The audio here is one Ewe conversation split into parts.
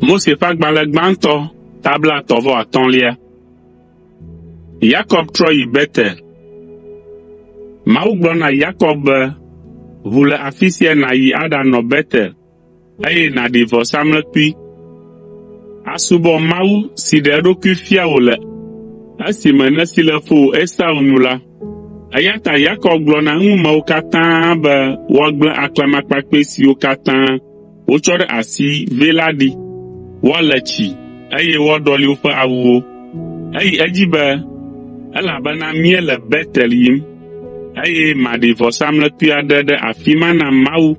Mose ƒe agbalẽ gbãtɔ tabla etɔ̃ vɔ atɔ̃lia. Yakob trɔ yi Betel. Mawu gblɔ na Yakob be, Ʋu le afi sia nàyi aɖanɔ Betel, eye nàɖi vɔsamlekpui asubɔ mawu si ɖe eɖokui fia wò le esime nèsi le fowò Esau nu la.” Eya ta Yakob gblɔ na eŋumewo katã be woagblẽ aklamakpakpɛ siwo katã wotsɔ ɖe asi vɛ la ɖi, woale tsi, eye woaɖɔli woƒe awuwo. Eyi edzi be, “Elabena míele Betel yim, eye maɖi vɔsamlekpui aɖe ɖe afi ma na Mawu.”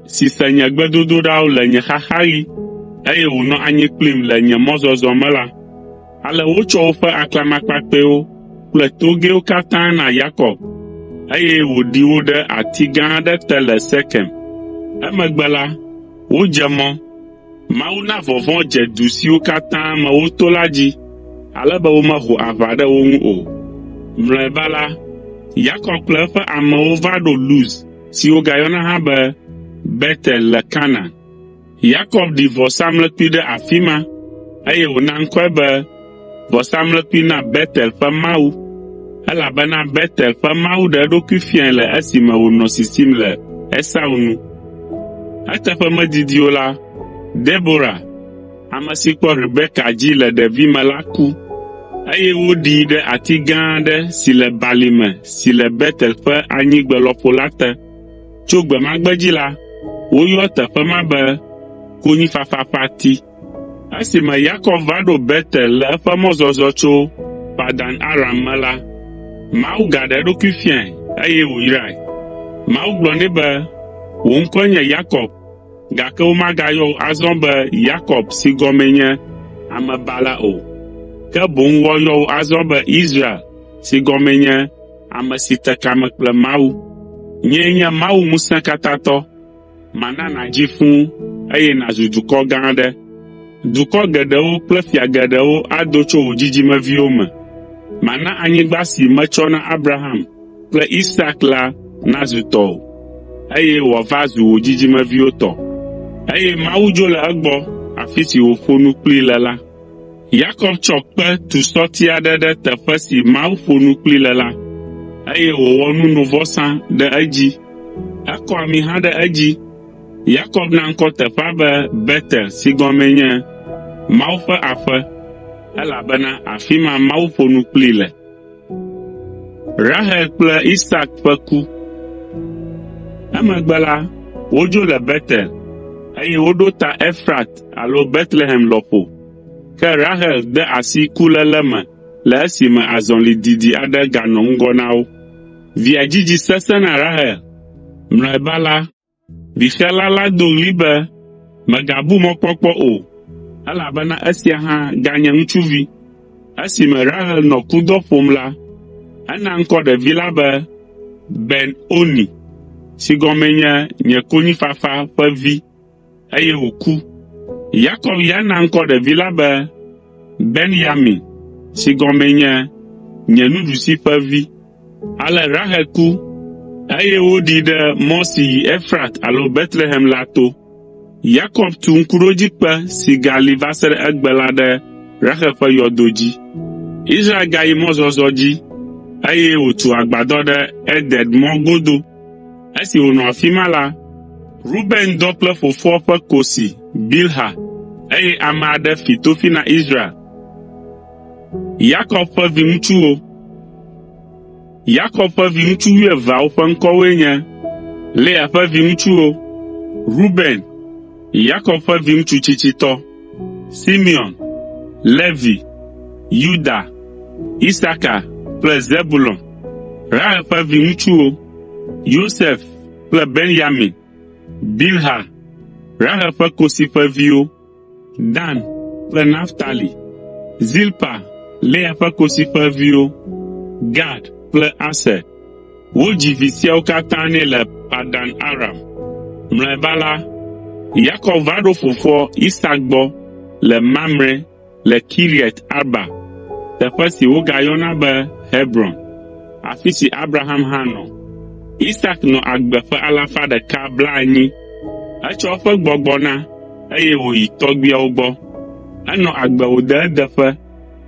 si se nye gbedodoɖawo le nye xaxaɣi, eye wònɔ anyi kplim le nye mɔzɔzɔ me la. Ale wotsɔ woƒe aklamakpakpɛwo kple togɛwo katã na Yakob, eye wòɖi wo ɖe ati gã aɖe te le Sekem. Emegbe la, wodze mɔ. Mawu na vɔvɔ̃ dze du siwo katã me woto la dzi ale be womeho aʋa ɖe wo ŋu o. Mlɔeba la, Yakob kple eƒe amewo va ɖo Luz, si wogayɔna hã be Betel le Kanaan. Yakob ɖi vɔsamlekpui ɖe afi ma, eye wòna ŋkɔe be, “Vɔsamlekpui na Betel ƒe Mawu,” elabena Betel ƒe Mawu ɖe eɖokui fiae le esime wònɔ sisim le Esau nu. Eteƒe medidi o la, Debora, Ame si kpɔ Rebeka dzi le ɖevime la ku, eye woɖii ɖe ati gã aɖe si le balime si le Betel ƒe anyigbe lɔƒo la te. Tso gbe ma gbe dzi la, woyɔa teƒe ma be “Konyifafa ƒe ati.” Esime Yakob va ɖo Betel le eƒe mɔzɔzɔ tso Padan Aram me la, Mawu gaɖe eɖokui fiae eye wòyrae. Mawu gblɔ nɛ be, “Wò ŋkɔe nye Yakob.” Gake womagayɔ wò azɔ be Yakob si gɔmee nye Amebala o, ke boŋ woayɔ wò azɔ be Israel si gɔmee nye Ame si Te Kame Kple Mawu. Nyee nye Mawu Ŋusẽkatãtɔ. Mana nàdzi fũ eye nàzu dukɔ gã aɖe. Dukɔ geɖewo kple fia geɖewo ado tso wò dzidzimeviwo me. Mana anyigba si metsɔ na Abraham, kple Isak la nazu tɔwò, eye wòava zu wò dzidzimeviwo tɔ. Eye Mawu dzo le egbɔ afi si wòƒo nu kplii le la. Yakob tsɔ kpe tu sɔti aɖe ɖe teƒe si Mawu ƒo nu kplii le la, eye wòwɔ nunovɔsa ɖe edzi. Ekɔ ami hã ɖe edzi. Yakob na ŋkɔ teƒea be Betel si gɔmee nye, “Mawu ƒe aƒe,” elabena afi ma Mawu ƒo nu kplii le. Rahel kple Isak ƒe ku. Emegbe la, wodzo le Betel, eye woɖo ta Efrat alo Betlehem lɔƒo. Ke Rahel de asi kuléle me le esime azɔli didi aɖe ganɔ ŋgɔ na wo. Via dzidzi sesẽ na Rahel. Mlɔeba la, Bifiala la do ɣli be, “Mègabu mɔkpɔkpɔ o, elabena esia hã ganye ŋutsuvi.” Esime Rahel nɔ kudɔ ƒom la, ena ŋkɔ ɖevi la be Ben Oni (si gɔmee nye “Nye Konyifafa ƒe Vi”). eye wòku. Yakob ya na ŋkɔ ɖevi la be Ben-Yamin, si gɔmee nye “Nye Nuɖusi Ƒe Vi.” Ale Rahel ku, eye woɖii ɖe mɔ si yi Efrat alo Betlehem la to. Yakob tu Ŋkuɖodzikpe si gali va se ɖe egbe la ɖe Rahel ƒe yɔdo dzi. Israel gayi mɔzɔzɔ dzi, eye wòtu agbadɔ ɖe Eder mɔ godo. Esi wònɔ afi ma la, Ruben dɔ kple fofoa ƒe kosi, Bilha, eye ame aɖe fi tofi na Israel. Yakob ƒe viŋutsuwo Yakob ƒe viŋutsu wuieveawo ƒe ŋkɔwoe nye: Lea ƒe viŋutsuwo, Ruben, Yakob ƒe viŋutsu tsitsitɔ, Simeon, Levi, Yuda, Isakar kple Zebulon, Reuel ƒe viŋutsuwo, Yosef kple Benyamin, Bilha, Rahel ƒe kosi ƒe viwo, Dan kple Naftali, Zilpa, Lea ƒe kosi ƒe viwo, Gad kple Aser. Wodzi vi siawo katã nɛ le Padan Aram. Mlɔeba la, Yakob va ɖo fofoa Isak gbɔ le Mamre le Kiriat Arba (teƒe si wogayɔna be Hebron), afi si Abraham hã nɔ. Isak nɔ agbe ƒe alafa ɖeka blaenyi (180). Etsɔ eƒe gbɔgbɔ na, eye wòyi tɔgbuiawo gbɔ. Enɔ agbe wòde edeƒe,